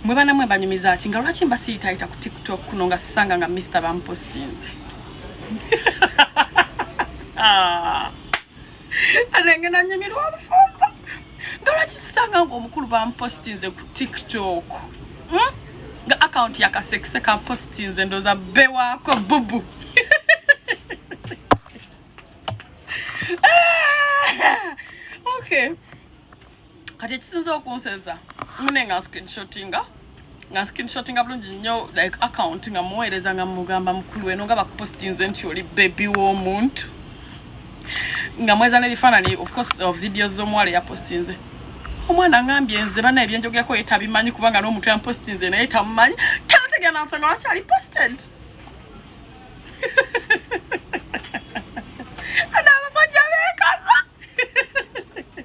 mwe bana mwe banyumiza ki nga lwaki mbasiitayita ku tiktok kuno nga sisanga nga mister bampostinze ah. anenge nanyumirwa obufumbo nga lwaki sisanga nga omukulu bampostinze ku tiktok hmm? nga akawunti yakasekise kampostinze ndoza bewako bubu ah. okay kati ekisinza okunseza mune nga nscreenshotinga nga nscreenshotinga bulungi nnyo like account nga muweereza nga mugamba mukulu weno nga bakupostinze nti oli bebi w'omuntu nga mweza n'ebifaanani ofcourse of uh, videos z'omuwala eyapostinze omwana angambye nze bana ebyenjogerako ye tabimanyi kubanga n'omuntu yampostinze naye tamumanyi tanategana nsonga lwaki ali posted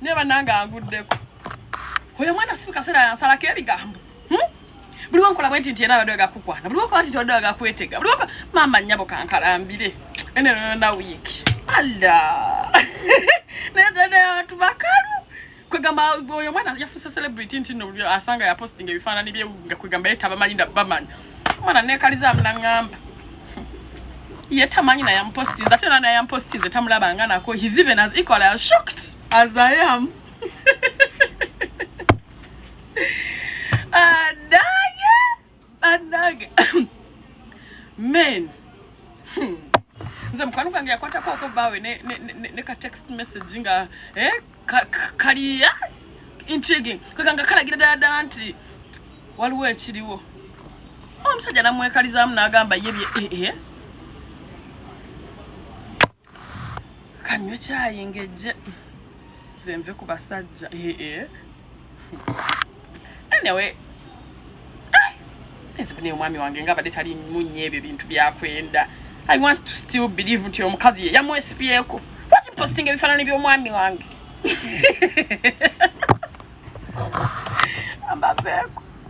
naye banange anguddeko oyo mwana sibu kaseera yansalako ebigambo hmm? buli wankola bwe nti nti era abadde wegakukwana buli wankola nti wadde wegakwetega buli wankola maama nnyabo kankalambire enenona wiiki alla naye dada abantu bakalu kwegamba oyo mwana yafuuse celebrity nti no asanga yapostinga ebifaanani bye nga kwegamba ye tabamanyi na bamanya mwana nekaliza munangamba ye tamanyi naye amupostinze ate era naye amupostinze tamulabanga nako his even as equal as shocked as i am adage adage men hmm. nze mukwano gwange yakwatako okubawe ne, ne, ne, ne ka text message nga eh? kaliya intriguing kweganga kalagira ddala ddala nti waliwo ekiriwo omusajja namwekalizaamu nagamba ye bye ee eh, eh. kanywe kyayingejje zenve ku basajja ee eh, anyway ezibune ah, omwami wange nga abadde tali munye ebyo bintu byakwenda i want to still believe nti omukazi ye yamwesipyeko lwaki posting ebifaanani by'omwami wange ambaveeko